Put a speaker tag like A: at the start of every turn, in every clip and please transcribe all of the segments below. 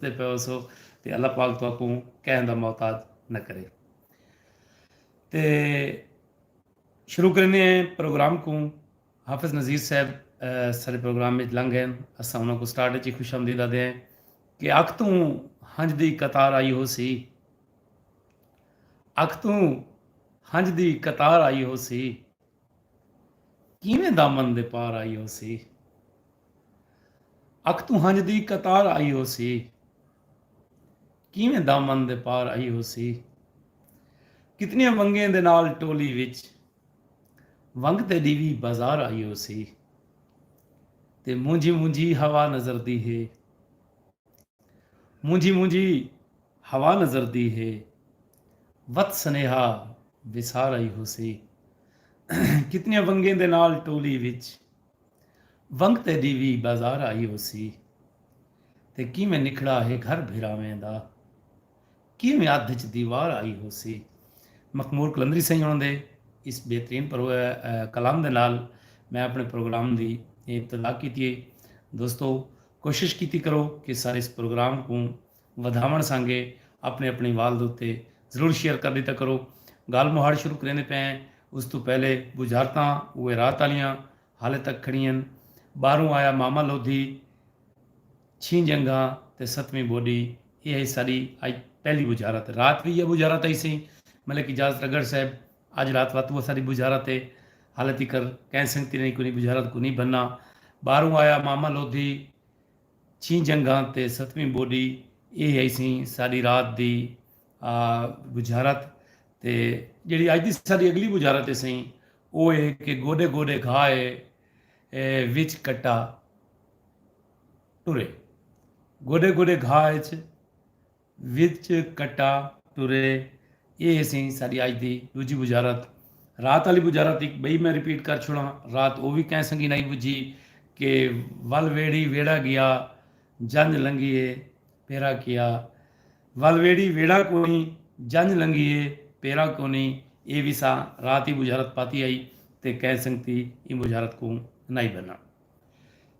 A: تے پئے ہوسو تے اللہ پاک تہاکوں کہیں دا محتاج نہ کرے۔ تے شروع کریندے ہیں پروگرام کوں حافظ نذیر صاحب سارے پروگرام وچ لنگ ہیں اساں انہاں کوں سٹارٹ وچ خوش آمدید آدے ہیں کہ اکھ توں ہنج دی قطار آئی ہوسی اکھ توں ہنج دی قطار آئی ہوسی کیویں دامن دے پار آئی ہوسی۔ اکھ توں ہنجھ دی قطار آئی ہوسی۔ کیویں دامن دے پار آئی ہوسی۔ کتنیاں ونگیں دے نال ٹولی وچ ونگ تیڈی وی بازار آئی ہوسی۔ تے مونجھی مونجھی ہوا نظردی ہے۔ مونجھی مونجھی ہوا نظر دی ہے وت سنیہا وسار آئی ہوسی کتنیاں ونگیں دے نال ٹولی وچ ونگ تیڈی وی بازار آئی ہوسی تے کیویں نکھڑا ہے گھر بھراویں دا کیویں ادھ اچ دیوار آئی ہوسی۔ مخمور قلندری سئیں ہوݨاں دے اس بہترین کلام دے نال میں اپݨے پروگرام دی ابتدا کیتی ہے دوستو کوشش کیتی کرو کہ سارے اس پروگرام کوں ودھاوݨ سانگے اپݨے اپݨے وال دے اتے ضرور شیئر کر ݙیتا کرو۔ ڳالھ مہاڑ شروع کریندے پئے ہیں اس توں پہلے ٻجھارتاں اوہے رات آلیاں حالے تک کھڑی ہن۔ ٻاہروں آیا ماما لودھی چھیں جنگھاں تے ستویں ٻوݙی ایہ ہئی ساݙی اڄ پہلی ٻجھارت۔ رات وی ایہا ٻجھارت ہئی سئیں ملک اجازت رگڑ صاحب اج رات وت وہ ساڈی بجھارت ہے ہالے تیکر کہیں سنگتی نے کونی بجھارت کونی بھنا باہروں آیا ماما لودھی چھیں جنگھاں تے ستویں بوڈی ایہ ہئی سی ساڈی رات دی بجھارت تے جیڑی اج دی ساڈی اگلی بجھارت ہے سئیں او اے کہ گوڈے گوڈے گھا اے وچ کٹا ٹرے گوڈے گوڈے گھا اچ وچ کٹا ٹرے اے سی ساڈی اج دی ڈوجھی بجارت رات آلی بجارت ہک بئی میں ریپیٹ کر چھوڑاں رات او وی کیں سنگی نائی بجھی کہ ول ویڑھی ویڑھا گیا جنج لنگھی اے پیرا کیا ول ویڑھی ویڑھا کونی جنج لنگھی اے پیرا کونی اے وی ساں رات ای بجارت پاتی ہئی تے کیں سنگتی ایں بجارت کوں نائی بھناں۔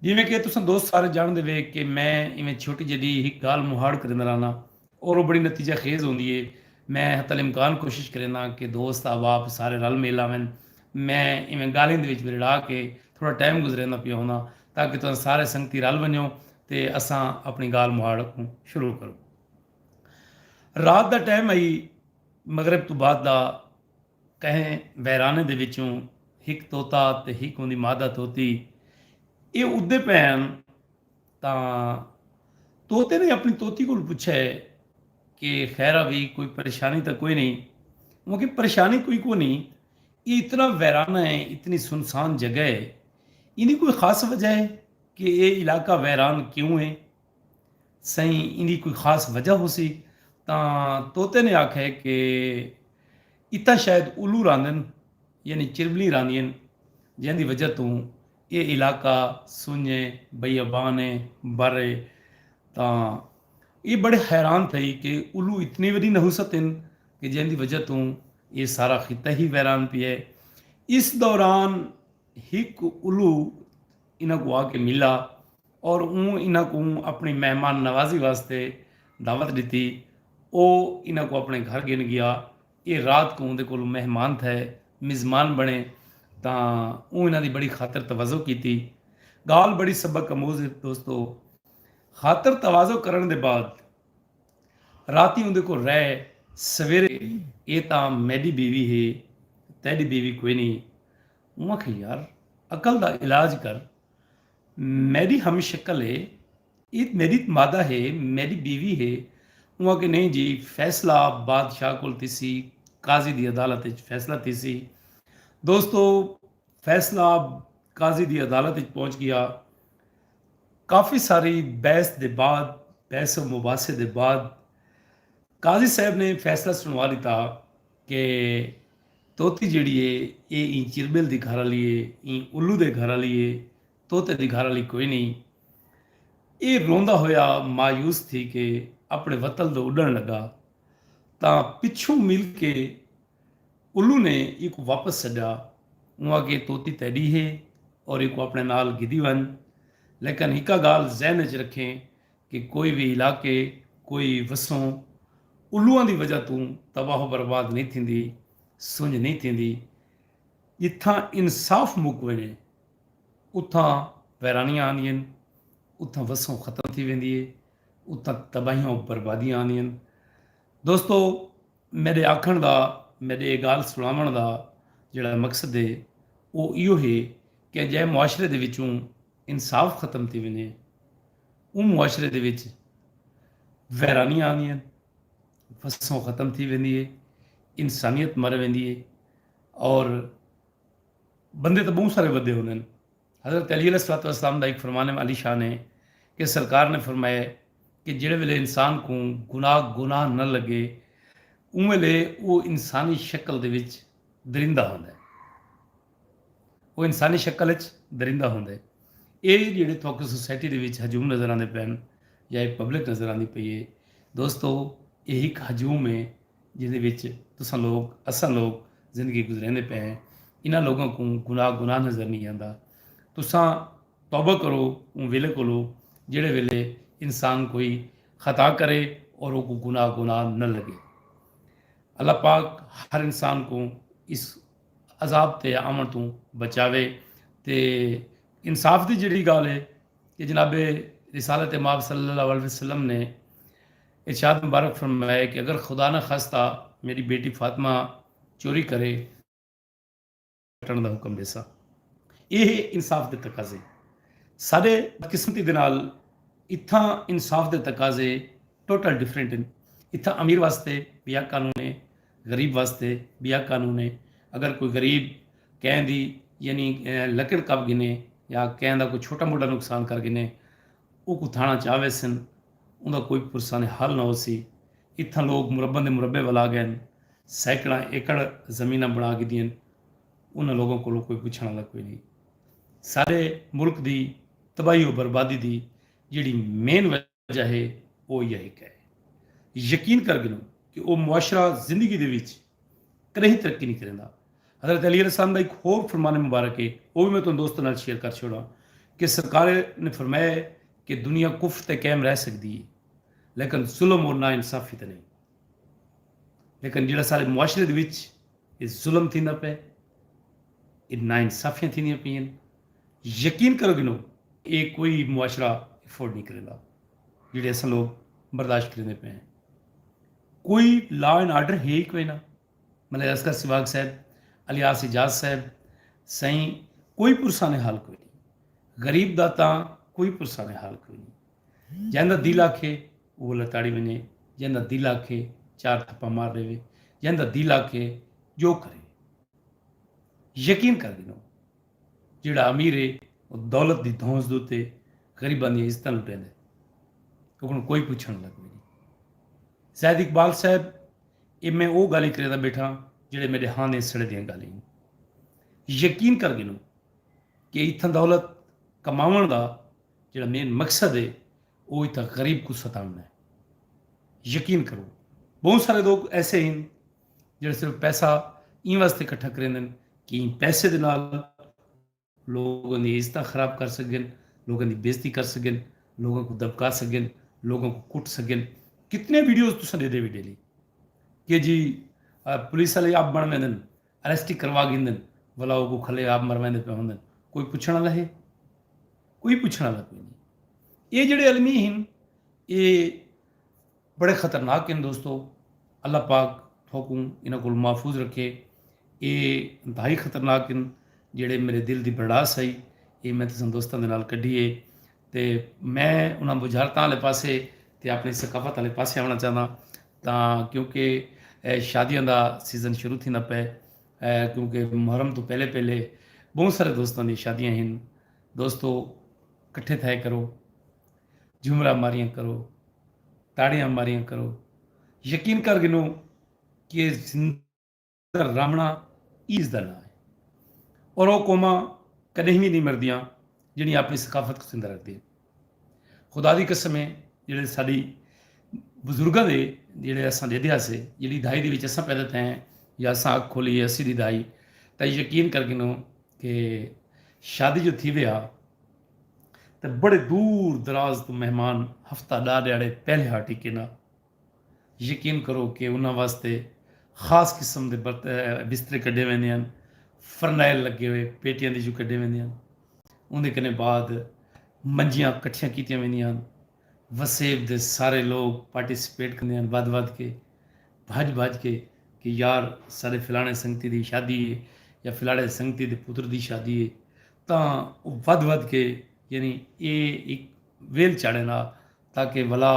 A: جیویں کہ تساں دوست سارے جانڑدے وے کہ میں ایویں چھوٹی جڈی ہک گالھ مہاڑ کریندا رہناں اور او بڑی نتیجہ خیز ہوندی اے۔ میں حتی الامکان کوشش کرینداں کہ دوست احباب سارے رل میل آون۔ میں ایویں گالھیں دے وچ ورڑا کے تھوڑا ٹائم گزریندا پیا ہونداں تاکہ تساں سارے سنگتی رل ونجو تے اساں اپنڑی گالھ مہاڑ اگوں شروع کروں۔ رات دا ٹائم ہئی، مغرب توں بعد دا۔ کہیں ویرانے دے وچوں ہک طوطا تے ہک اوندی مادہ طوطی ایہ اڈدے پئے ہن تاں طوطے نے اپݨی طوطی کولوں پچھیا ہے کہ خیرا وی کوئی پریشانی تاں کوئی نئیں؟ اوہ آکھے پریشانی کوئی کونی ایہ اتنا ویرانہ ہے اتنی سنسان جگہ ہے ایندی کوئی خاص وجہ ہے کہ ایہ علاقہ ویران کیوں ہے؟ سئیں ایندی کوئی خاص وجہ ہوسی تاں طوطے نے آکھئے کہ اتھاں شاید الو راندن یعنی چربلیاں راندین جیندی وجہ توں اے علاقہ سنج اے بیابان اے بر اے تاں اے بڑے حیران تھئی کہ الو اتنے ودی نحوست ہن کہ جیندی وجہ توں اے سارا خطہ ہی ویران پیا اے اس دوران ہک الو انہاں کوں آ کے ملا اور اوں انہاں کوں اپنی مہمان نوازی واسطے دعوت ڈتی۔ او انہاں کوں اپنے گھر گھن گیا۔ اے رات کوں اوندے کولوں مہمان تھئے، مزمان بنے تاں اوں انہاں دی بڑی خاطر تواضع کیتی۔ گالھ بڑی سبق اموز ہے دوستو۔ خاطر تواضع کرن دے بعد راتی اوندے کول رہے سویرے اے تاں میڈی بیوی ہے تیڈی بیوی کوئی نی۔ اوں آکھیے یار عقل دا علاج کر میڈی ہم شکل ہے اے میڈی مادہ ہے میڈی بیوی ہے اوں آکھیے نہیں جی فیصلہ بادشاہ کول تھیسی قاضی دی عدالت اچ فیصلہ تھیسی دوستو فیصلہ قاضی دی عدالت اچ پہنچ گیا کافی ساری بحث دے بعد بحث و مباحثے دے بعد قاضی صاحب نے فیصلہ سنوا دیتا کہ طوطی جیڑھی اے اے ایں چربل دی گھر آلی اے ایں الو دے گھر آلی اے طوطے دی گھر آلی کوئی نئیں اے روندا ہویا مایوس تھی کے اپنے وطن دو اڈن لگا تاں پچھوں مل کے الو نے ایکوں واپس سڈیا اوں آکھیے طوطی تیڈی ہے اور ایکوں اپنے نال گھدی ونج لیکن ہکا گال ذہن اچ رکھیں کہ کوئی وی علاقے، کوئی وسوں الوئاں دی وجہ توں تباہ و برباد نئیں تھیندی، سنڄ نئیں تھیندی۔ جتھاں انصاف مک ونڄے، اتھاں ویرانیاں آندین، اتھاں وسوں ختم تھی ویندی ہے، اتھاں تباہیاں و بربادیاں آندین۔ دوستو! میݙے آکھݨ دا، میݙے ایہ ڳالھ سݨاوݨ دا جیڑھا مقصد ہے، او ایہو ہے کہ جئیں معاشرے دے وچوں انصاف ختم تھی ونڄے، اوں معاشرے دے وچ ویرانیاں آندیاں ہن، وسوں ختم تھی ویندی ہے، انسانیت مر ویندی ہے اور بندے تاں بہوں سارے ودے ہوندے ہن۔ حضرت علی علیہ الصلوۃ والسلام دا ہک فرمان عالی شان ہے کہ سرکار نے فرمایا کہ جیڑھے ویلے انسان کوں گناہ گناہ نہ لگے اوں ویلے او انسانی شکل دے وچ درندہ ہوندا ہے۔ او انسانی شکل اچ درندہ ہوندے۔ اے جیڑھے تہاکوں سوسائٹی دے وچ ہجوم نظر آندے پئن یا اے پبلک نظر آندی پئی اے دوستو اے ہک ہجوم اے جیندے وچ تساں لوک اساں لوک زندگی گزریندے پئے ہیں انہاں لوکاں کوں گناہ گناہ نظر نی آندا تساں توبہ کرو اوں ویلے کولو جیڑھے ویلے انسان کوئی خطا کرے اور اوکوں گناہ گناہ نہ لگے اللہ پاک ہر انسان کوں اس عذاب تے آوݨ توں بچاوے تے انصاف دی جیڑھی گالھ ہے کہ جناب رسالت مآب صلی اللہ علیہ وسلم نے ارشاد مبارک فرمایا کہ اگر خدا نہ خاصتا میݙی بیٹی فاطمہ چوری کرے کٹݨ دا حکم ݙیساں ایہ ہے انصاف دے تقاضے ساݙے بدقسمتی دے نال اتھاں انصاف دے تقاضے ٹوٹل ڈیفرنٹ ہن اتھاں امیر واسطے ٻیا قانون ہے غریب واسطے بیا قانون اے اگر کوئی غریب کہیں دی یعنی لکڑ کپ گھنے یا کہیں دا کوئی چھوٹا موٹا نقصان کر گھنے اوکوں تھانہ چا ویسن اوندا کوئی پرسانہ حل نہ ہوسی اتھاں لوگ مربع دے مربع ولا گئن سیکڑاں ایکڑ زمیناں بنا گھدین انہاں لوگاں کولوں کوئی پچھن آلا کوئی نی ساڈے ملک دی تباہی و بربادی دی جیڑھی مین وجہ جہے او یہے کئے یقین کر گھنوں کہ او معاشرہ زندگی دے وچ کڈہیں ترقی نی کریندا۔ حضرت علی علیہ السلام دا ہک ہور فرمان مبارک ہے او وی میں تہاڈے دوستاں نال شیئر کر چھوڑاں کہ سرکار نے فرمایا ہے کہ دنیا کفر تے قائم رہ سکدی ہے لیکن ظلم اور نا انصافی تے نئیں لیکن جیہڑا سارے معاشرے دے وچ اے ظلم تھیندا پئے اے نا انصافیاں تھیندیاں پئین یقین کرو گھنو۔ اے کوئی معاشرہ افورڈ نی کریندا جیڑھے اساں لوگ برداشت کریندے پئے ہیں۔ کوئی لا اینڈ آرڈر ہے ای کوئی نا۔ ملائر اصغر سواگ صاحب، الیاس اعجاز صاحب سائیں کوئی پرسانحال کوئی نی۔ غریب دا تاں کوئی پرسانحال کوئی نی۔ جیندا دل آکھے اوہ لتاڑی ونجے جیندا دل آکھے چار تھپا مار ڈیوے جیندا دل آکھے جو کرے یقین کر گھنو جیڑا امیر ہے او دولت دی دھونس دوتے غریباں دی عزتاں لٹیندا ہے اوکوں کوئی پوچھن لگ کوئی نہیں زید اقبال صاحب اے میں او گالیں کریندا بیٹھا جڑے میرے ہاں دے سڑے دیاں گالیں یقین کر گھنو کہ اتھاں دولت کماون دا جیڑھا مین مقصد ہے او اتھاں غریب کوں ستاونڑاں ہے۔ یقین کرو بہوں سارے لوگ ایسے ہن جیڑھے صرف پیسہ ایں واسطے کٹھا کریندن کہ ایں پیسے دے نال لوگاں دی عزتاں خراب کر سگن، لوگاں دی بےعزتی کر سگن، لوگاں کوں دبکا سگن، لوگاں کوں کٹ سگن۔ کتنے ویڈیوز تساں ڈیدھے وی ڈیلی کہ جی پولیس آلے آپ بنڑ ویندن اریسٹ ای کروا گھندن ولا او کو کھلے آپ مرویندے پئے ہوندن کوئی پچھن آلا ہے کوئی پچھن آلا کوئی نی اے جیڑے المی ہن اے بڑے خطرناک ہن دوستو اللہ پاک تھوکوں انہاں کول محفوظ رکھے اے انتہائی خطرناک ہن جیڑے میرے دل دی بھڑاس ہئی اے میں تساں دوستاں دے نال کڈھی اے تے میں انہاں بجھارتاں آلے پاسے تے اپنی ثقافت آلے پاسے آونا چاہنداں تاں کیونکہ شادیاں دا سیزن شروع تھیندا پئے کیونکہ محرم توں پہلے پہلے بہوں سارے دوستاں دی شادیاں ہن دوستو کٹھے تھائے کرو جھمرا ماریاں کرو تاڑیاں ماریاں کرو یقین کر گھنو کہ زندگی تر رامنا ایز دا ناں ہے اور او قوماں کڈہیں وی نہیں مردیاں جیڑھیاں اپنی ثقافت کوں زندہ رکھدے ہن خدا دی قسم ہے جیڑھے ساڈی بزرگاں دے جیڑھے اساں دے دیا سے جیڑھی دھائی دے وچ اساں پیدا تھے ہیں یا اساں اکھ کھولی ہے اسی دی دھائی تے یقین کر گنو کہ شادی جو تھی ویا تے بڑے دور دراز تو مہمان ہفتہ ڈا ڈیاڑے پہلے ہاٹی کینا یقین کرو کہ انہاں واسطے خاص قسم دے بسترے کڈھے ویندے ہن، فرنائل لگے ہوئے پیٹیاں دے جو کڈھے ویندے ہن۔ اوندے کنے بعد منجیاں کٹھیاں کیتیاں ویندیاں ہن۔ وسیب دے سارے لوگ پارٹیسپیٹ کندے ہن ودھ ودھ کے، بھج بھج کے کہ یار ساڈے فلانے سنگتی دی شادی ہے یا فلاڑے سنگتی دے پتر دی شادی ہے تاں او ودھ ودھ کے یعنی اے ہک ویل چاڑھن آ۔ تاکہ ولا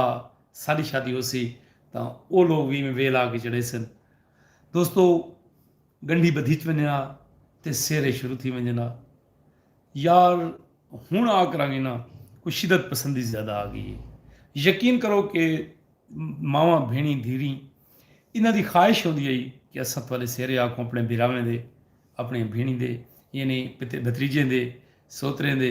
A: ساݙی شادی ہوسی تاں او لوک وی میں ویل آ کے چڑھیسن۔ دوستو گنڈھی بدھی چ ونجنا تے سیرے شروع تھی ونجنا۔ یار ہن آ کراں گی نا کوئی شدت پسندی زیادہ آ گئی اے۔ یقین کرو کہ ماواں بھینڑیں دھیریں انہاں دی خواہش ہوندی ہئی کہ اساں تہاݙے سیرے آکوں اپݨے بھراویں دے، اپݨیاں بھینڑیں دے یعنی بھتریجیں دے، سوتریں دے،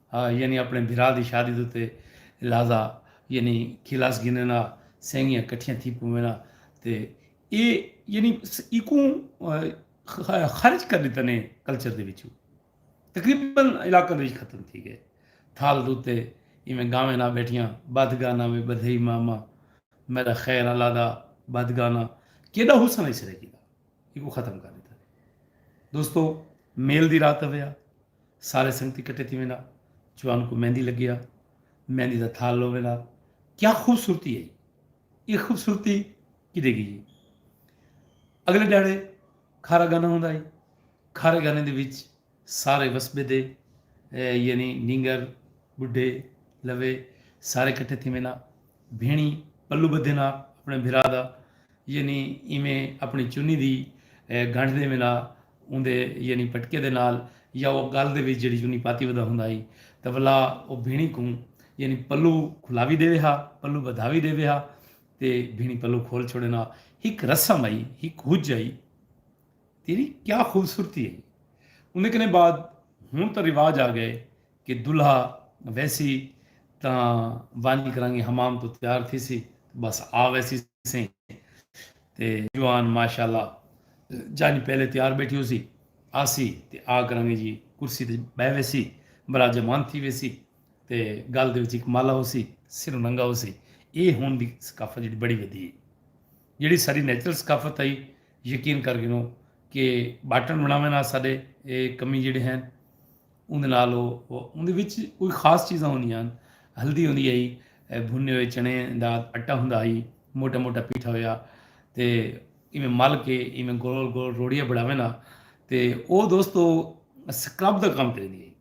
A: ہا یعنی اپݨے بھرا دی شادی دے اتے لہذا یعنی کھلاس گھنݨ آ سینگیاں کٹھیاں تھی پووݨ آ تے اے یعنی ایکوں خارج کر ݙتا نے کلچر دے وچوں تقریبا علاقہ دے وچ ختم تھی گئے تھال دے اتے ایویں گاویں نہ بیٹھیاں بدھ گانا وے بدھئی ماما میڈا خیر اللہ دا بدھ گانا کیڈا حسن ہے سرے کیتا ایکوں ختم کر ݙتا دوستو میل دی رات ویا سارے سنگتی کٹے تھی ویندا جوان کوں مہندی لگیا مہندی دا تھال لو ویندا کیا خوبصورتی ہے یہ خوبصورتی کدے گئی اگلے ڈاڑے کھارا گانا ہوندا ہے کھارے گانے دے وچ سارے وسبے دے یعنی نینگر بڈھے لوے سارے کٹھے تھی وینا بھیݨی پلو ٻدھینا اپݨے بھرا دا یعنی ایویں اپݨی چنی دی گنڈھ ݙیوینا اوندے یعنی پٹکے دے نال یا او ڳل دے وچ جیڑھی چنی پاتی ودا ہوندا ہئی تاں ولا او بھیݨی کوں یعنی پلو کھلا وی ݙیوے ہا پلو ٻدھا وی ݙیوے ہا تے بھیݨی پلو کھول چھوڑینا ہک رسم ہئی ہک ہج ہئی تیری کیا خوبصورتی ہئی اوندے کنے بعد ہن تاں رواج آ ڳئے کہ دلہا ویسی تاں ونج کرانگی حمام توں تیار تھیسی تے بس آ ویسی سئیں تے جوان ماشاء اللہ جنج پہلے تیار بیٹھی ہوسی آسی تے آ کرانگی جی کرسی تے بہہ ویسی برا جمان تھی ویسی تے گل دے وچ ہک مالا ہوسی سر ننگا ہوسی اے ہن دی ثقافت جیڑی بڑی ودی ہے جیڑی ساری نیچرل ثقافت ہئی یقین کر گھنو کہ باٹن بناویں نال ساڈے اے کمی جیڑے ہیں اوندے نال او اوندے وچ کوئی خاص چیزاں ہوندیاں ہن ہلدی ہوندی ہئی بھنے ہوئے چنے دا اٹا ہوندا ہئی موٹا موٹا پیٹھا ہویا تے ایویں مل کے ایویں گول گول روڑیاں بناویں نا تے او دوستو سکرب دا کام کریندی ہئی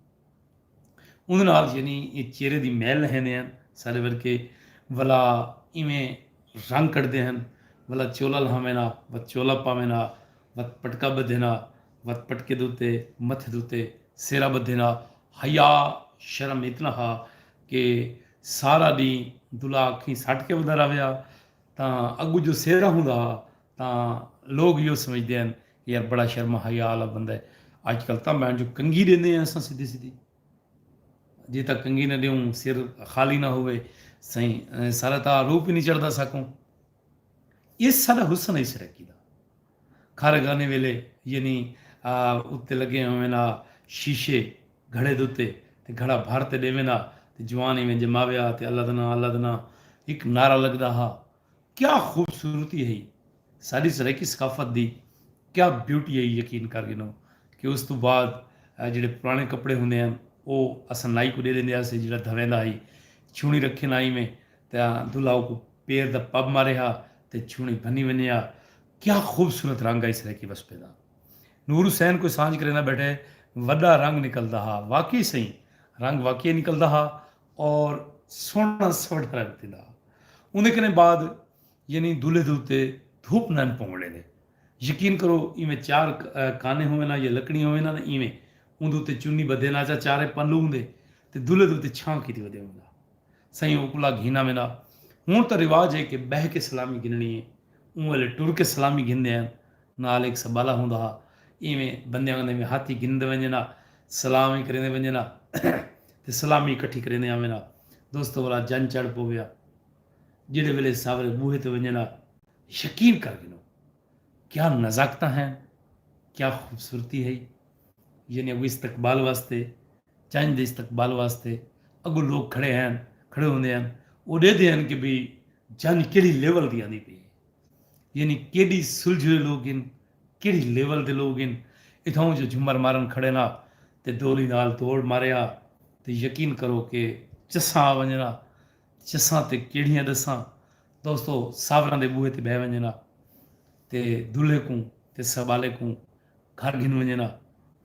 A: اوندے نال یعنی اے چہرے دی میل لہندے ہیں سارے ورکے ولا ایویں رنگ کٹدے ہیں ولا چولا لہاویں نا و چولا پاویں نا و پٹکا بدھے نا وت پٹکے دے اتے متھے دے اتے سیرا بدھیندا حیا شرم اتنا ہا کہ سارا ڈینہہ دلا اکھیں سٹ کے ودھا راویا تاں اگو جو سیرا ہوندا ہا تاں لوگ یو سمجھدے ہن کہ یار بڑا شرم حیا والا بندہ ہے اج کل تاں بہن جو کنگھی دیندے ہیں اساں سیدھی سیدھی جی تک کنگھی نہ دیوں سر خالی نہ ہوئے سائیں سارا تا روپ ہی نہیں چڑھتا سکوں اس سارا حسن ہے سرکی دا کھر گھنے ویلے یعنی آ اتے لگے ہووین آ شیشے گھڑے دتے تے گھڑا بھر تے ڈیویندا تے جوان ایویں جماویا تے اللدنا اللدنا اک نعرہ لگدا ہا کیا خوبصورتی ہئی ساڈی سرائیکی ثقافت دی کیا بیوٹی ہئی یقین کر گھنو کہ اس توں بعد جیڑھے پرانے کپڑے ہوندے ہن او اساں نائی کوں ڈے ڈیندے ہاسے جیڑھا دھویندا ہئی چھونی رکھین آ ایویں تے دلہا اوکوں پیر دا پب مارے ہا تے چھوݨی بھنی ونڄے ہا کیا خوبصورت رنگ ہئی سرائیکی وسپے دا نور حسین کوئی سانجھ کریندا ٻیٹھے وݙا رنگ نکلدا ہا واقعی سئیں رنگ واقعی نکلدا ہا اور سوہݨا سوہݨا رنگ تھیندا ہا اوندے کنے بعد یعنی دولھے دے اتے دھوپ نئن پووݨ ݙیندے یقین کرو ایویں چار کانے ہوون ہاں یا لکڑیاں ہوون ہاں نا ایویں اوندے اتے چنی ٻدھے ناچا چارے پلو ہوندے تے دولھے دے اتے چھاں کیتی ودے ہوندا سئیں اوکلا گھینا ویندا ہن تاں رواج ہے کہ بہہ کے سلامی گھننڑی ہے اوں ویلے ٹر کے سلامی گھندے ہن نال ہک سبالہ ہوندا ہا ایویں بندیاں کندے میں ہاتھ ای گھندے ونجن ہا سلام ای کریندے ونجن ہا تے سلامی ای کٹھی کریندے آون ہا دوستو ولا جن چڑھ پوے ہا جیڑھے ویلے ساورے بوہے تے ونجن ہا یقین کر گھنو کیا نزاکتاں ہن کیا خوبصورتی ہئی یعنی اگو استقبال واسطے چنج دے استقبال واسطے اگوں لوک کھڑے ہن کھڑے ہوندے ہن او ڈیدھے ہن کہ بھئی جنج کیڑھی لیول دی آندی پئی ہے یعنی کیڈی سلجھے ہوئے لوک ہن کیڑھی لیول دے لوک ہن اتھاؤں جو جھمر مارن کھڑے نا تے ڈولی نال دوڑ مارے ہا تے یقین کرو کہ چساں آ ونجن ہا چساں تے کیڑھیاں ڈساں دوستو ساوراں دے بوہے تے بہہ ونجن ہا تے دلہے کوں تے سبالے کوں گھر گھن ونجن ہا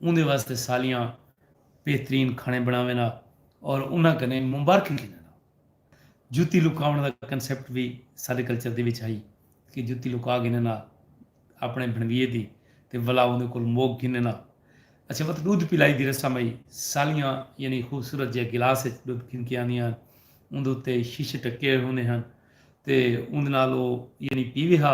A: اوندے واسطے سالیاں بہترین کھانے بنڑاون ہا اور انہاں کنے مبارکیں گھنن ہا۔ جتی لکاون دا کنسپٹ وی ساڈے کلچر دے وچ ہئی کہ جتی لکا گھنن ہا اپنڑے بھنڑویے دی تے ولا اوندے کول موک گھنن ہا۔ اچھا وت ڈودھ پلائی دی رسم ہئی سالیاں یعنی خوبصورت جئے گلاس وچ ڈودھ گھن کے آندیاں ہن اوندے اتے شیشے ڈھکے ہوئے ہوندے ہن تے اوندے نال او یعنی پیوے ہا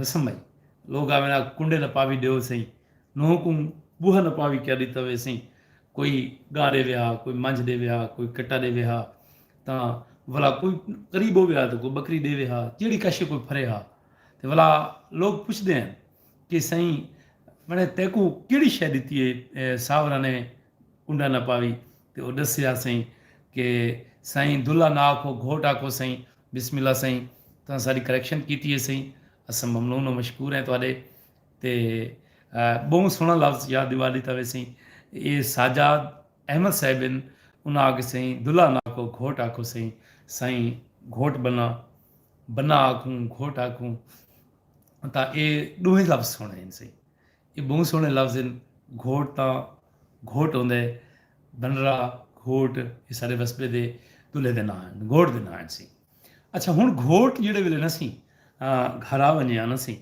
A: رسم ہئی۔ لوگ آوین آکھ کنڈے نپاوی ڈیو سئیں۔ نوح کوں بوہا نپاوی کیا ڈتا وے سئیں۔ کوئی گاہ ڈیوے ہا، کوئی منجھ ڈیوے ہا، کوئی کٹا ڈیوے ہا تاں ولا کوئی قریب ہووے ہا تاں کوئی بکری ڈیوے ہا جیڑھی کشے کوئی پھرے ہا تے ولا لوگ پچھدے ہن کہ سئیں بھنڑیں تیکوں کیڑھی شے ڈتی اے ساورا نے کنڈا نپاوی تے او ڈسیا سئیں کہ سائیں دلہ نہ آکھو گھوٹ آکھو سئیں بسم اللہ سائیں تساں ساڈی کریکشن کیتی ہے سئیں اساں ممنون و مشکور ہیں تہاڈے تے بہوں سوہنا لفظ یاد دیوا ڈیتا ہوئے سئیں اے ساجاد احمد صاحب ہن انہاں آکھے سئیں دلہ نہ آکھو گھوٹ آکھو سئیں سائیں گھوٹ بنہ بنہ آکھوں گھوٹ آکھوں تاں اے ڈوہیں لفظ سوہنے ہن سئیں اے ٻہوں سوہݨے لفظ ہن۔ گھوٹ تاں گھوٹ ہوندے۔ بھنرا، گھوٹ، اے ساݙے وسبے دے دلہے دے ناں ہن۔ گھوٹ دے ناں ہن سیں۔ اچھا ہݨ گھوٹ جیڑھے ویلے نہ سیں گھر آ ونڄے آنا سیں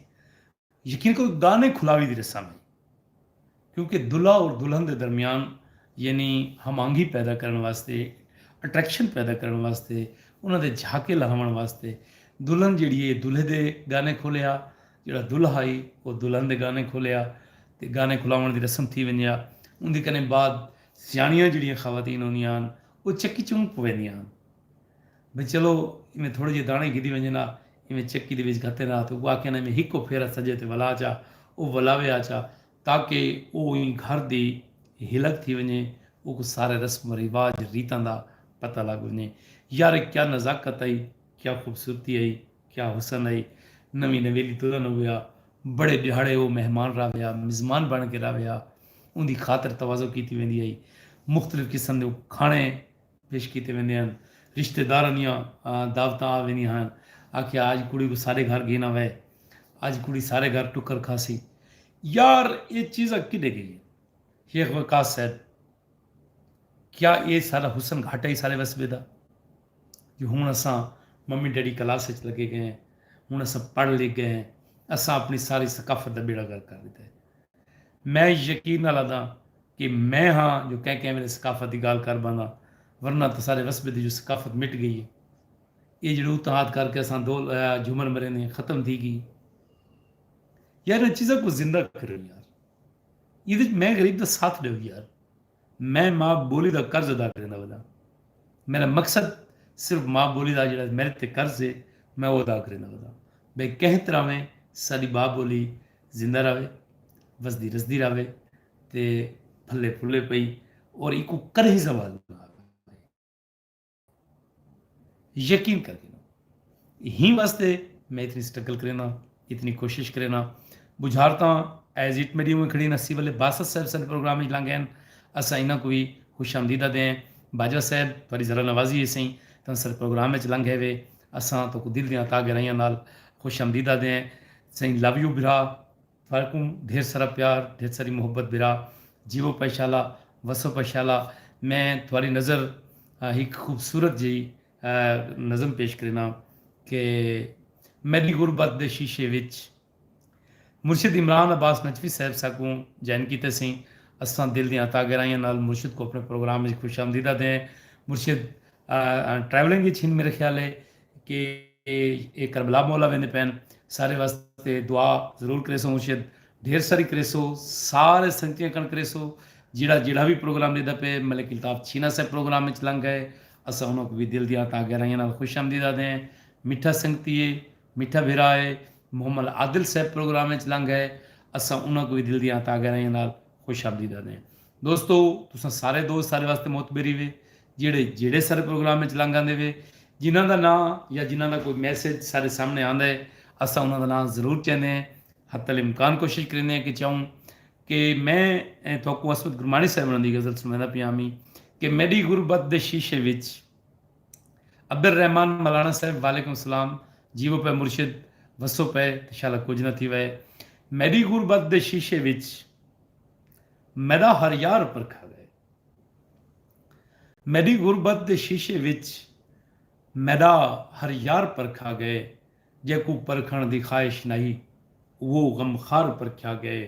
A: یقین کرو ڳانے کھلاوی دی رسم ہئی۔ کیونکہ دلہا اور دلہن دے درمیان یعنی ہم آہنگی پیدا کرݨ واسطے اٹریکشن پیدا کرݨ واسطے انہاں دے جھاکے لہاوݨ واسطے دلہن جیڑھی اے دلہے دے ڳانے کھولے ہا۔ جیڑھا دلہا ہئی او دلہن دے گانے کھولیا تے گانے کھلاوݨ دی رسم تھی ونڄے ہا۔ اوندی کنیں بعد سیاݨیاں جیڑھیاں خواتین ہوندیاں ہن او چکی چونک پویندیاں ہن بھئی چلو ایویں تھوڑے جیہے داݨے گھدی ونڄن ہا ایویں چکی دے وچ گھتن ہا تے او آکھن ہا ایویں ہکو پھیرا سڄے تے ولا چا او ولاوے ہا چا تاکہ او ایں گھر دی ہلک تھی ونڄے اوکوں سارے رسم و رواج ریتاں دا پتہ لڳ ونڄے۔ یار کیا نزاکت ہئی کیا خوبصورتی ہئی۔ کیا حسن ائی نویں نویلی ترن ہویا بڑے ڈیہاڑے او مہمان راویا مزمان بن کے راویا اوندی خاطر تواضع کیتی ویندی ائی مختلف قسم دے کھانے پیش کیتے ویندے ہن رشتہ داراں دیاں دعوتاں آ ویندیاں ہن آکھیا اج کڑی کوں سارے گھر گھینا وے اج کڑی سارے گھر ٹکر کھاسی یار اے چیزاں کڈے گئیاں شیخ وقاص صاحب کیا ایہ ساڈا حسن گھٹ ہئی سارے وسبے دا جو ہن اساں ممی ڈیڈی کلاس اچ لگے گئے ہیں ہن اساں پڑھ لکھ گئے ہیں اساں اپنی ساری ثقافت دا بیڑا غرق کر ڈتا ہے میں یقین نال آداں کہ میں ہاں جو کہیں کہیں ویلے ثقافت دی گالھ کر بانداں ورنہ تاں سارے وسبے دی جو ثقافت مٹ گئی ہے ایہ جیڑھے اتحاد کر کے اساں دو جھومر مریندے ہیں ختم تھی گئی یار انہاں چیزاں کوں زندہ کرو یار۔ ایں وچ میں غریب دا ساتھ ڈیو یار میں ماء بولی دا قرض ادا کریندا وداں میرا مقصد صرف ماء بولی دا جیڑا میرے تے قرض ہے میں او ادا کریندا وداں بھئی کہیں طرح میں ساڈی ماء بولی زندہ راوے وسدی رسدی راوے تے پھلے پھلے پئی اور ایکوں کدھی زوال نہ آوے۔ یقین کر دینا ہی واسطے میں اتنی سٹرگل کرینا اتنی کوشش کرینا بجھارتاں ایز اٹ میری ہوئے کھڑی نسی والے باسط صاحب سارے پروگرام ہی لانگے ہیں اسا انہاں کو بھی خوش آمدیدہ دے ہیں باجوہ صاحب تھوڑی ذرا نوازی ہے سائیں تاں سارے پروگرام میں چلانگے ہوئے اساں تو کو دل دیاں تاں گرائیاں نال خوش آمدیدہ دے ہیں سائیں لو یو برا سارے کوں ڈھیر سارا پیار ڈھیر ساری محبت برا جیوو پئے شالا وسو پئے شالا میں تھواری نظر ہک خوبصورت جئی نظم پیش کرینا کہ میڈی غربت دے شیشے وچ مرشد عمران عباس نجفی صاحب ساکوں جوائن کیتے سئیں اساں دل دیاں عطا گہرائیاں نال مرشد کوں اپنے پروگرام وچ خوش آمدید آدھے ہیں مرشد ٹریولنگ وچ ہن میرے خیال ہے کہ اے کربلا مولا ویندے پین سارے واسطے دعا ضرور کریسو مرشد ڈھیر ساری کریسو سارے سنگتیاں کن کریسو جیڑا جیڑا وی پروگرام لیدا پے ملک الطاف چھینا صاحب پروگرام وچ لنگ گئے اساں انہاں کو وی دل دیاں تاں گہرائیاں نال خوش آمدید آدے ہیں میٹھا سنگتی ہے میٹھا بھرا ہے محمد عادل صاحب پروگرام وچ لنگ گئے اساں انہاں کو وی دل دیاں تاں گہرائیاں نال خوش آمدید آدے ہیں دوستو تساں سارے دوست سارے واسطے معتبری وے جیڑھے جیڑھے سارے پروگرام اچ لنگ آندے وے جنہاں دا ناں یا جنہاں دا کوئی میسج سارے سامنے آندا ہے اساں انہاں دا ناں ضرور چیندے ہیں حتی الامکان کوشش کریندے ہیں کہ چاہوں کہ میں تھوکوں عصمت گرمانی صاحب انہاں دی غزل سنویندا پیاں ہمی کہ میڈی غربت دے شیشے وچ عبدالرحمن ملانا صاحب وعلیکم السلام جیو پے مرشد وسو پے انشاءاللہ کچھ نہ تھی وے میڈی غربت دے شیشے وچ میݙا ہر یار پرکھا ڳئے۔ میݙی غربت دے شیشے وچ میݙا ہر یار پرکھا ڳئے جیکوں پرکھݨ دی خواہش نہ ہی اوہو غم خوار پرکھیا ڳئے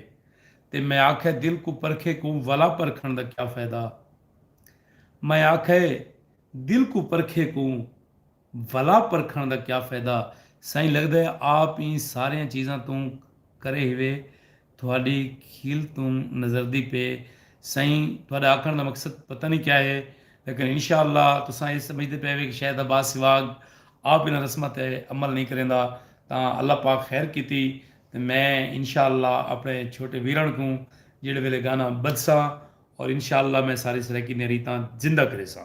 A: تے میں آکھئے دل کوں پرکھے کوں ولا پرکھݨ دا کیا فائدہ میں آکھئے دل کوں پرکھے کوں ولا پرکھݨ دا کیا فیدہ سائیں لگدا ہے آپ ایں ساریاں چیزاں توں کرے ہوئے تہاݙی کھیل توں نظردی پئے سائیں تہاݙا آکھݨ دا مقصد پتہ نئیں کیا ہے لیکن انشاء اللہ تساں اے سمجھدے پئے ہوئے کہ شاید عباس سواڳ آپ انہاں رسماں تے عمل نئیں کریندا تاں اللہ پاک خیر کیتی تے میں انشاء اللہ اپݨے چھوٹے ویرݨ کوں جیڑھے ویلے گانا ٻدھساں اور انشاء اللہ میں ساری سرائیکی نیں ریتاں زندہ کریساں۔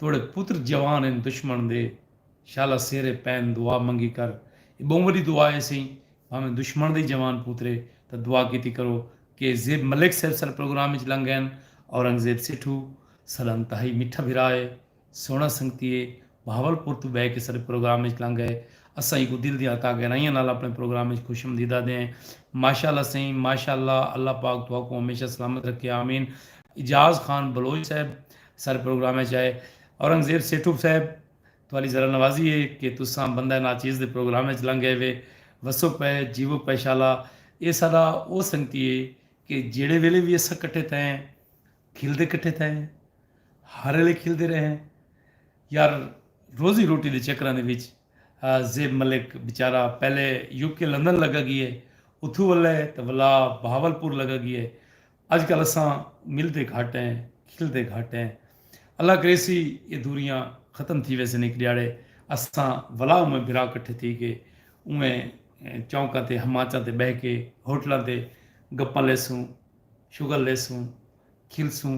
A: توڑے پتر جوان ہن دشمن دے شالا سیرے پین دعا منگی کر اے بہوں وڈی دعا ہے سئیں بھاویں دشمن دے ہی جوان پوترے تاں دعا کیتی کرو کے زیب ملک صاحب ساڈے پروگرام وچ لنگ گئن اورنگزیب سیٹھو ساڈا انتہائی میٹھا بھرا ہے سوہنا سنگتی ہے بہاول پور توں بہ کے ساڈے پروگرام وچ لنگ گئے اساں ایکوں دل دیاں ہتاں گہرائیاں نال اپنے پروگرام وچ خوش امدید آدھے ہیں ماشاءاللہ سئیں ماشاءاللہ اللہ پاک تہاکوں ہمیشہ سلامت رکھے آمین اعجاز خان بلوچ صاحب سر پروگرام اچ آئے اورنگزیب سیٹھو صاحب تہاڈی ذرا نوازی اے کہ تساں بندہ ناچیز دے پروگرام اچ لنگ گئے وے وسو پئے جیوو پئے شالا اے ساڈا او سنگتی اے کہ جیڑھے ویلے وی اساں کٹھے تھئے ہیں کھلدے کٹھے تھئے ہیں ہر ایلے کھلدے رہے ہیں یار روزی روٹی دے چکراں دے وچ زیب ملک بیچارہ پہلے یو کے لندن لگا گیے اتھو ولے تے ولا بہاول پور لگا گیے اج کل اساں ملدے گھٹ ہیں کھلدے گھٹ ہیں اللہ کریسی اے دوریاں ختم تھی ویسن ہک ڈیاڑے اساں ولا اوویں بھرا کٹھے تھی کے اوویں چونکاں تے ہماچاں تے بہہ کے ہوٹلاں تے گپاں لیسوں شغل لیسوں کھلسوں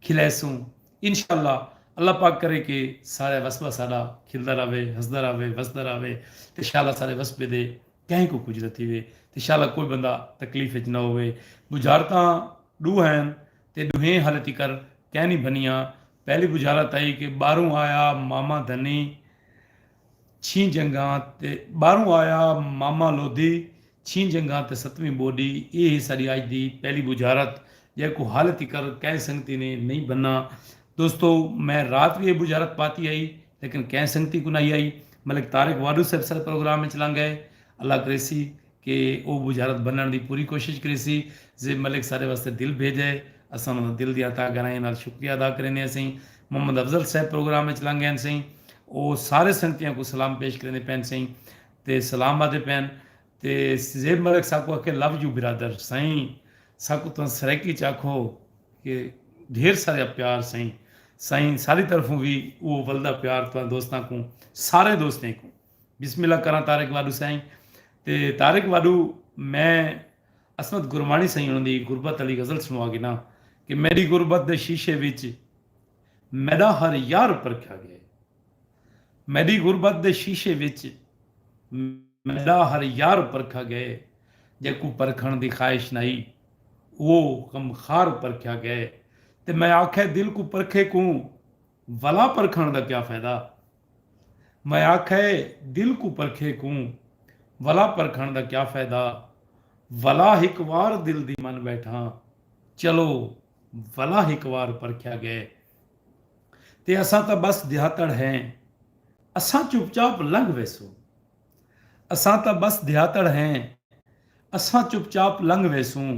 A: کھلیسوں انشاءاللہ اللہ پاک کرے کہ سارے وسبا ساڈا کھلدا رہے ہسدا رہے وسدا رہے تے شالا سارے وسبے دے کہیں کوں کجھ نہ تھیوے تے شالا کوئی بندہ تکلیف اچ نہ ہووے۔ بجھارتاں ڈو ہین تے ڈوہیں ہالے تیکر کینی بھنیاں۔ پہلی بجھارت ہئی کہ باروں آیا ماما دھنی چھیں جنگاں تے باروں آیا ماما لودھی چھیں جنگاں تے ستویں بوڈی ایہ ہے ساڈی اج دی پہلی بجھارت جیکوں ہالے تیکر کہیں سنگتی نے نئیں بھنا۔ دوستو میں رات وی ایہ بجھارت پاتی ہئی۔ لیکن کہیں سنگتی کوں نہ ہی آئی۔ ملک طارق واڈو صاحب سر پروگرام وچ لنگ گئے۔ اللہ کریسی کہ او بجھارت بننڑ دی پوری کوشش کریسی۔ زیب ملک سارے واسطے دل بھیجئے۔ اساں انہاں دا دل دیاں تہہ گہرائیاں نال شکریہ ادا کریندے ہسئیں۔ محمد افضل صاحب پروگرام وچ لنگ گئین سئیں۔ او سارے سنگتیاں کوں سلام پیش کریندے پئین سئیں تے سلام آدھے پئین۔ تے زیب ملک ساکوں آکھے لو یو برادر سائیں ساکوں تاں سرائیکی چ آکھو کہ ڈھیر ساریا پیار سائیں سائیں ساڈی طرفوں وی اوہ ولدا پیار تاں دوستاں کوں ساریں دوستیں کوں بسم اللہ کراں طارق واڈو سائیں تے طارق واڈو میں عصمت گرمانی سائیں انہاں دی غربت آلی غزل سنوا گھنا کہ میڈی غربت دے شیشے وچ میڈا ہر یار پرکھیا گئے۔ میڈی غربت دے شیشے وچ میڈا ہر یار پرکھا گئے جیکوں پرکھݨ دی خواہش نہ ہئی اوہ غم خار پرکھیا گئے تے میں آکھے دل کوں پرکھے کوں ولا پرکھݨ دا کیا فائدہ میں آکھے دل کوں پرکھے کوں ولا پرکھݨ دا کیا فائدہ ولا ہک وار دل دی من بیٹھاں چلو ولا ہک وار پرکھیا گئے تے اساں تاں بس دیہاتڑ ہیں اساں چپ چاپ لنگھ ویسوں اساں تاں بس دیہاتڑ ہیں اساں چپ چاپ لنگھ ویسوں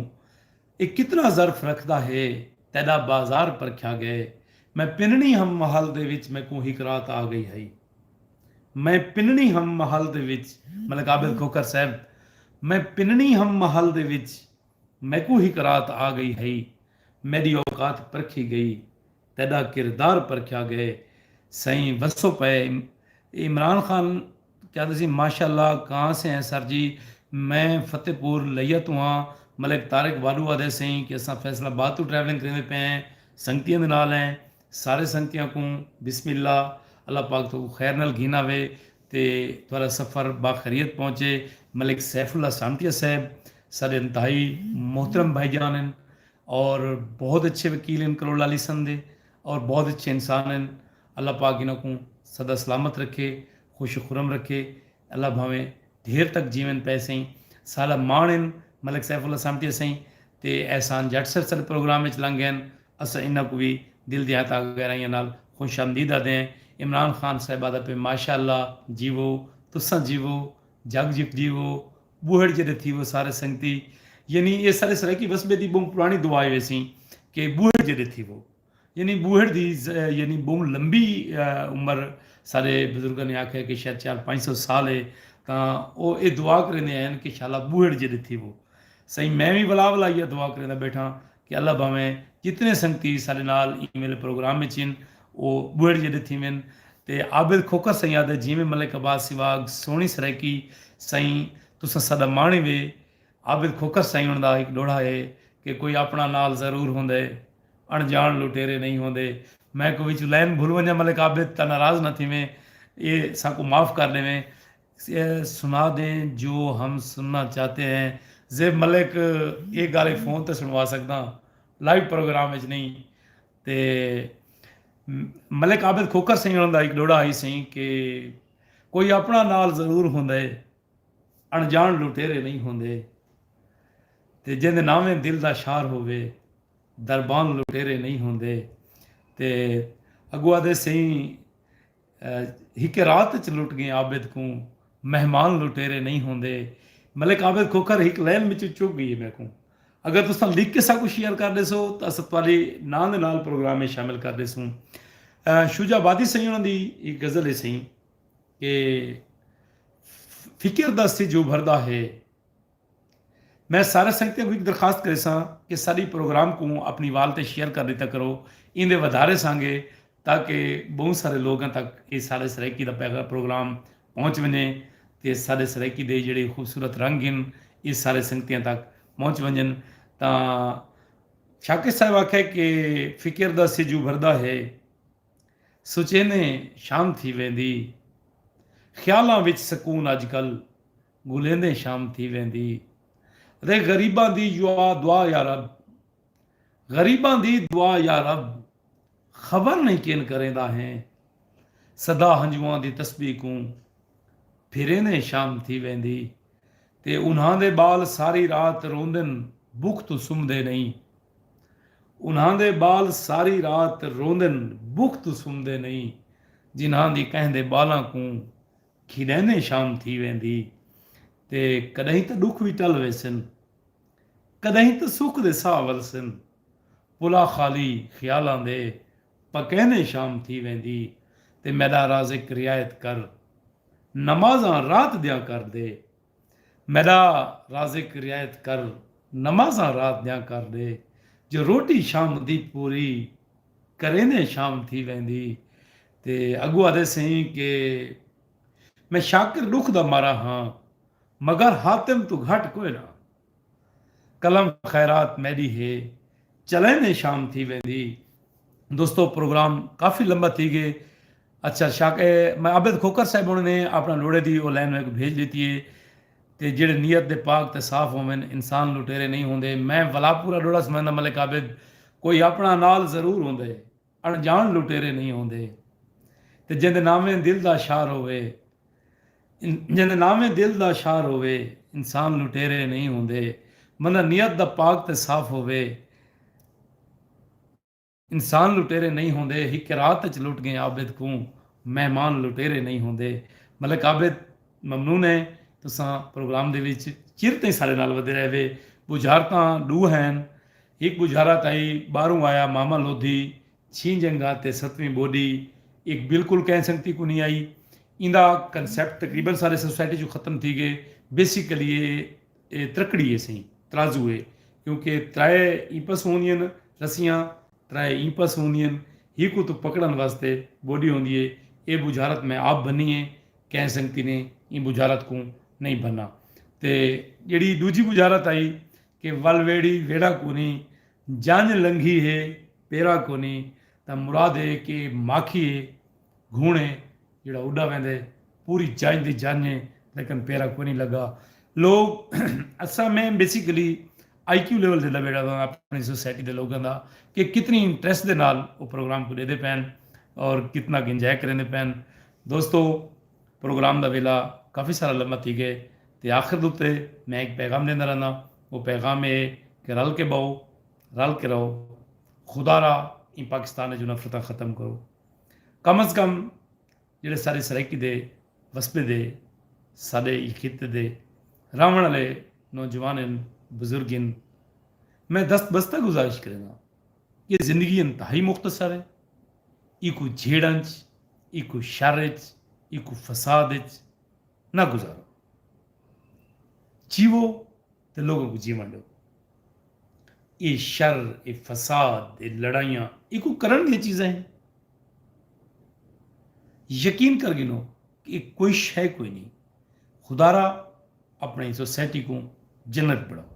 A: اے کتنا ظرف رکھدا ہے تیڈا بازار پرکھیا گئے میں پننی ہم محل دے وچ میکوں ہک رات آ گئی ہئی میں پننی ہم محل دے وچ ملک عابد کھوکھر صاحب میں پننی ہم محل دے وچ میکوں ہک رات آ گئی ہئی میڈی اوقات پرکھی گئی تیڈا کردار پرکھیا گئے سئیں وسو پئے عمران خان کیا تسی ماشاء اللہ کہاں سے ہیں سر جی میں فتح پور لیا توں ہاں ملک طارق واڈو آدھے سئیں کہ اساں فیصل آباد توں ٹریولنگ کریندے پئے ہیں سنگتیاں دے نال ہیں سارے سنگتیاں کوں بسم اللہ اللہ پاک تہاکوں خیر نال گھن آوے تے تہاڈا سفر باخریت پہنچے ملک سیف اللہ سانٹیہ صاحب ساڈے انتہائی محترم بھائی جان ہن اور بہت اچھے وکیل ہن کروڑ لالی سن دے اور بہت اچھے انسان ہن اللہ پاک انہاں کوں سدا سلامت رکھے خوش و خرم رکھے اللہ بھاویں دھیر تک جیون پے سائیں ساڈا ماݨ ہن ملک سیف اللہ سانٹیہ سائیں تے احسان جٹ صاحب ساڈے پروگرام وچ لنگ گئے ہن اساں انہاں کوں وی دل دیاں تاں گہرائیاں نال خوش آمدید آدھے ہیں۔ عمران خان صاحب آدھا پئے ماشاء اللہ جیوو تساں جیوو جگ جیت جیوو بوہڑ جیڈے تھیوو سارے سنگتی یعنی اے سارے سرائیکی وسبے دی بہوں پرانی دعا اے ویسی کہ بوہڑ جیڈے تھیوو یعنی بوہڑ دی یعنی بہوں لمبی عمر سارے بزرگاں نے آکھیا کہ شاید چار پنج سو سال اے تاں او اے دعا کریندے آئے ہن کہ شالا بوہڑ جیڈے تھیوو سائیں میں وی ولا ولا ایہا دعا کریندا بیٹھاں کہ اللہ بھانویں جتنے سنگتی ساڈے نال ایں ویلے پروگرام وچ ہن او بوئڑ جیڈے تھیون تے عابد کھوکھر سئیں آدھے جیویں ملک عباس سیواگ سوہنی سرائیکی سئیں تساں ساڈا ماݨی وے عابد کھوکھر سئیں انہاں دا ہک ڈوہڑا ہے کہ کوئی اپݨا نال ضرور ہوندے اݨ جاݨ لٹیرے نئیں ہوندے میں کوئی وچوں لائن بھل ونجاں ملک عابد تاں ناراض نہ تھیویں اے ساکوں معاف کر ڈیویں سنا دیں جو ہم سننا چاہتے ہیں زیب ملک اے گالھیں فون تے سنوا سکداں لائیو پروگرام وچ نہیں تے ملک عابد کھوکھر سئیں انہاں دا ہک ڈوہڑا ہئی سئیں کہ کوئی اپنا نال ضرور ہوندے اݨجاݨ لٹیرے نہیں ہوندے تے جیندے ناویں دل دا شار ہووے دربان لٹیرے نہیں ہوندے تے اگو آدھے سئیں ہکے رات اچ لٹ گئیں عابد کوں مہمان لٹیرے نئیں ہوندے ملک عابد کھوکھر ہک لین وچوں چک گئی میکوں اگر تساں لکھ کے ساکوں شیئر کر ڈیسو تاں اساں تہاڈے ناں دے نال پروگرام میں شامل کر ڈیسوں شجا آبادی سئیں انہاں دی ایک غزل ہے سئیں کہ فکر دا سج ابھردا ہے میں سارے سنگتیاں کوں ہک درخواست کریساں کہ ساڈی پروگرام کوں اپنی وال تے شیئر کر ڈیتا کرو ایندے ودھارے سانگے تاکہ بہوں سارے لوگاں تک اے ساڈے سرائیکی دا پروگرام پہنچ ونجے تے ساڈے سرائیکی دے جیڑھے خوبصورت رنگ ہن اے سارے سنگتیاں تک پہنچ ونجن تاں شاکر صاحب آکھے کہ فکر دا سجو بھردا ہے سچینے شام تھی ویندی خیالاں وچ سکون اج کل گھلیندیں شام تھی ویندی رے غریباں دی یوا دعا یارب غریباں دی دعا یارب خبر نہیں کین کریندا ہیں صدا ہنجواں دی تسبیح کوں پھریندیں شام تھی ویندی تے انہاں دے بال ساری رات روندن بکھ تو سمدے نہیں انہاں دے بال ساری رات روندن بکھ تو سمدے نہیں جنہاں دی کہیں دے بالاں کوں کھیݙیندیں شام تھی ویندی تے کݙاہیں تاں ݙکھ وی ٹل ویسن کݙاہیں تاں سکھ دے ساہ ولسن پلا خالی خیالاں دے پکیندیں شام تھی ویندی تے میݙا رازق رعایت کر نمازاں رات دیاں کر دے میݙا رازق رعایت کر نمازاں رات دیاں کر ݙے جو روٹی شام دی پوری کریندیں شام تھی ویندی تے اڳوں آدھے سئیں کہ میں شاکر ݙکھ دا مارا ہاں مگر حاتم توں گھٹ کوئناں۔ قلم خیرات میڈی ہے چلیں دے شام تھی ویندی دوستو پروگرام کافی لمبا تھی گئے اچھا شاک اے میں عابد کھوکر صاحب انہوں نے اپنا لوڑے دی او لائن میں کو بھیج دیتی ہے تے جڑے نیت دے پاک تے صاف ہومن انسان لوٹیرے نہیں ہوندے میں ولاپورا ڈوڑا سمندہ ملک عابد کوئی اپنا نال ضرور ہوندے اݨڄاݨ لٹیرے نئیں ہوندے تے جیندے ناویں دل دا شاہ رووے جیندے ناویں دل دا شاہ رووے انسان لٹیرے نئیں ہوندے بندہ نیت دا پاک تے صاف ہووے انسان لٹیرے نئیں ہوندے ہک رات اچ لٹ ڳئیں عابد کوں مہمان لٹیرے نئیں ہوندے ملک عابد ممنون ہیں تساں پروگرام دے وچ چر تئیں ساݙے نال ودے رہوے ٻجھارتاں ݙو ہین ہک ٻجھارا تائی ٻاہروں آیا ماما لودھی چھیں جنگھاں تے ستویں ٻوڈی اک بالکل کہیں سنگتی کونی آئی ایندا کنسپٹ تقریبا سارے سوسائٹی چوں ختم تھی گئے بیسیکلی اے اے ترکڑی اے سئیں ترازو اے کیونکہ ترائے ایں پس ہوندین رسیاں ترائے ایں پس ہوندین ہک اتوں پکڑن واسطے ٻوڈی ہوندی اے اے ٻجھارت میں آپ بھنی اے کہیں سنگتی نے ایں ٻجھارت کوں نئیں بھنا تے جیڑھی ڈوجھی ٻجھارت آئی کہ ول ویڑھی ویڑھا کونی، جنج لنگھی ہے پیرا کونی تاں مراد ہے کہ ماکھی ہے گھوݨ ہے جیڑھا اݙا ویندے پوری جنج دی جنج ہے لیکن پیرا کونی لگا لوگ اساں میں بیسیکلی آئی کیو لیول دے لویڑا دا اپنی سوسائٹی دے لوگاں دا کہ کتنی انٹریسٹ دے نال او پروگرام کو ݙیندے پئن اور کتنا ک انجوائے کریندے پئن دوستو پروگرام دا ویلا کافی سارا لمہ تھی گئے تے آخر دے اتے میں ہک پیغام ڈیندا رہنا او پیغام اے کہ رل کے بہو رل کے رہو خدا را ایں پاکستان اچوں نفرتاں ختم کرو کم از کم جیڑھے سارے سرائیکی دے وسبے دے ساڈے ایں خطے دے راہون والے نوجوان ہن بزرگ ہن میں دست بستہ گزارش کرینداں ایہ زندگی انتہائی مختصر ہے، ایکوں جھیڑاں اچ، ایکوں شر اچ، ایکوں فساد اچ نہ گزارو۔ جیوو تے لوگاں کوں جیوݨ ݙیو۔ ایہ شر، ایہ فساد، ایہ لڑائیاں ایکوں کرݨ دیاں چیزاں ہن۔ یقین کر گھنو کہ ایہ کوئی شئے کوئی نئیں۔ خدارا اپݨی سوسائٹی کوں جنت بݨاؤ۔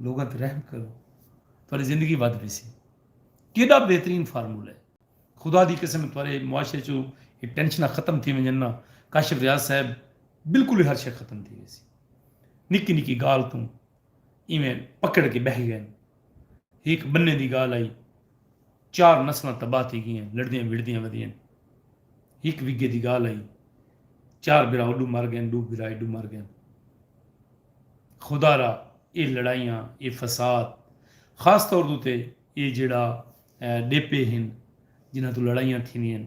A: لوگاں تے رحم کرو تہاڈی زندگی ودھ ویسی۔ کیڈا بہترین فارمولہ ہے۔ خدا دی قسم تہاڈے معاشرے چوں اے ٹینشناں ختم تھی ونجن نا کاشف ریاض صاحب بالکل ہی ہر شے ختم تھی ویسی۔ نکی نکی گالھ توں ایویں پکڑ کے بہہ گئن۔ ہیک بننے دی گالھ آئی۔ چار نسلاں تباہ تھی گیاں لڑدیاں وڑدیاں ودیاں ہک وگھے دی گالھ ہئی چار بھرا اوڈو مر گئن ڈو بھرا ایڈو مر گئن خدا را اے لڑائیاں اے فساد خاص طور دو تے اے جیڑا ڈیپے ہن جنہاں تو لڑائیاں تھیوین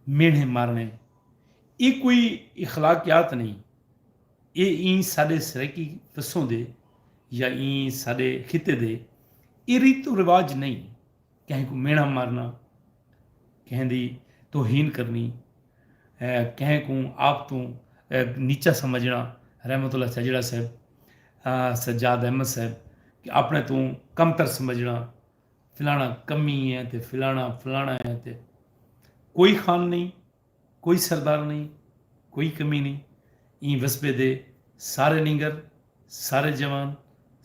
A: مینڑھے مارنے اے کوئی اخلاقیات نہیں اے ایں ساݙے سرائیکی وسوں دے یا ایں ساݙے خطے دے اے ریت و رواج نئیں کہیں کوں میݨا مارنا، کہیں دی توہین کرنی، کہیں کوں آپ توں نیچا سمجھݨا رحمت اللہ چاجڑا صاحب، سجاد احمد صاحب کہ آپݨے توں کم تر سمجھݨا فلاݨا کمی ہے تے فلاݨا فلاݨا ہے تے کوئی خان نئیں۔ کوئی سردار نئیں کوئی کمی نئیں ایں وسبے دے سارے نینگر سارے جوان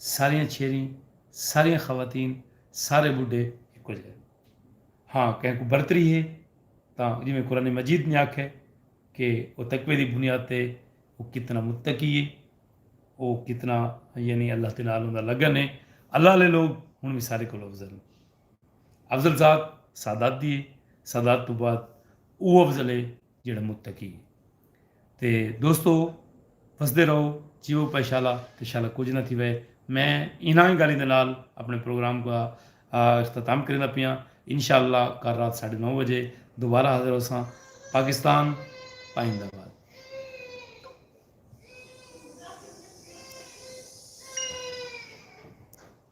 A: ساریاں چھیریں ساریاں خواتین سارے ٻڈھے ہکو جیہے ہن ہاں کہیں کوں برتری ہے تاں جیویں قرآن مجید نے آکھے کہ او تقوی دی بنیاد تے او کتنا متقی ہے او کتنا یعنی اللہ دے نال اوندا لگن ہے اللہ آلے لوگ ہن وی سارے کولو افضل ہن۔ افضل ذات سادات دی ہے، سادات توں بعد اوہ افضل ہے جیہڑا متقی ہے۔ تے دوستو وسدے رہو جیو پئے شالا تے شالا کجھ نہ تھیوے۔ میں انہاں ہی گالیں دے نال اپنے پروگرام دا اختتام کریندا پیاں۔ انشاءاللہ کل رات ساڈھے نو بجے دوبارہ حاضر ہوساں۔ پاکستان پائندہ باد۔